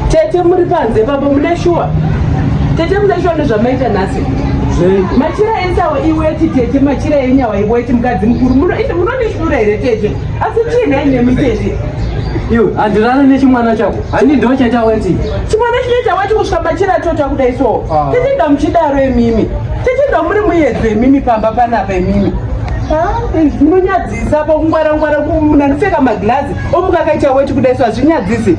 Tete muri panze papo mune shuwa. Tete mune shuwa nezvamaita nhasi. Machira ensawo iweti tete machira enyawa iweti mukadzi mukuru munondishura here tete asi chii nhai nemi tete iwe handirana nechimwana chako hani ndo chaita weti chimwana chinoita weti kusvika machira atota kudai so ah. tete ndamuchidaro emimi tete ndamuri muyedzo emimi pamba panapa emimi munonyadzisa pakungwarangwara munanipfeka maglazi omukakaita weti kudai so hazvinyadzisi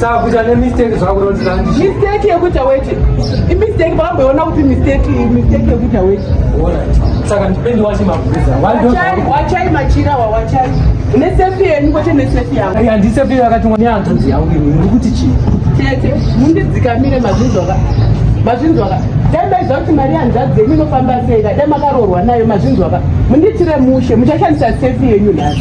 saka kuita nemistake zvakunotiza mistake yekuita weti imistake vakamboiona kuti mistake mistake yekuita weti saka ndipendi wachi mabhuza wachai machira wawachai nesefi yenu kwete nesefi yangu handisefi yakatumwa neanzonzi yangu imi uri kuti chii tete mundidzikamire mazvinzwaka mazvinzwaka dai maiziva kuti mari yanzvadzi yenyu inofamba sei ka dai makaroorwa nayo mazvinzwaka mundiitire mushe muchashandisa sefi yenyu nhasi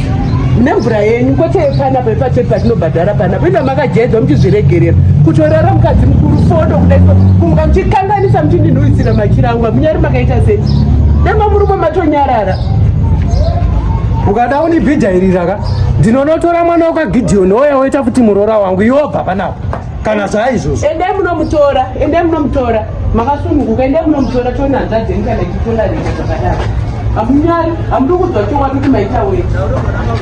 nemvura yenyu kwete panapo ipachete patinobhadhara panapo ina makajaidzwa muchizviregerera kutorara mukadzi mukuru fodo kudaio kumuka muchikanganisa muchindinhuwisira machira angu amunyari makaita sei dema murume matonyarara ukada unibhidhairiraka ndinonotora mwana wakagideoni oya woita kuti muroora wangu iwobva panapo kana saizvozvo endai munomutora endai munomutora makasununguka endai munomutora tione hanzvadzi yenyu kana ichitola rega zvakadaro hamunyari hamudi kudzwa chokwadi kuti maita wei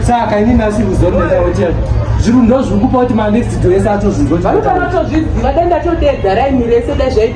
saka ini nasi ruziva rinotaotera zviru ndozviri kupa kuti manext do ese atozvinzwa vanofanira tozviziva dai ndatodedza raini rese dai zvai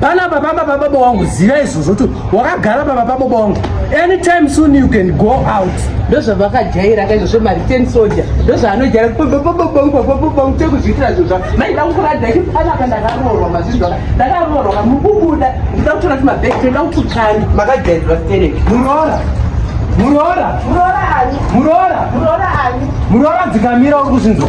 panapa pamba pababa wangu ziva izvozvo kuti wakagara pamba pababa wangu anytime soon you can go out ndozvavakajaira ka izvozvo mariten soja ndozvaanojaira tekuzviitira zvozva maida kukurada i panapa ndakaroorwa mazvizvaka ndakaroorwa ka mukubuda ndida kutora kuti mabheki toda kututsani makajairirwa stereki muroora muroora muroora muroora dzikamira uri kuzvinzwa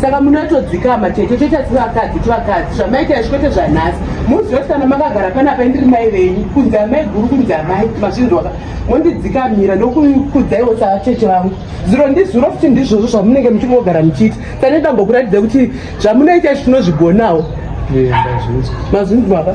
saka munotodzikama chete choita chivakadzi chivakadzi zvamaita izvi kwete zvanhasi muzive kuti kana makagara panapa indiri mai venyu kunzi amai guru kunzi amai mazvinzwaka mondidzikamira ndokukudzaiwo sacheche vangu zuro ndizuro futi ndizvozvo zvamunenge muchingogara muchiita sane dambokuratidza kuti zvamunoita izvi tinozvigonawo mazvinzwaka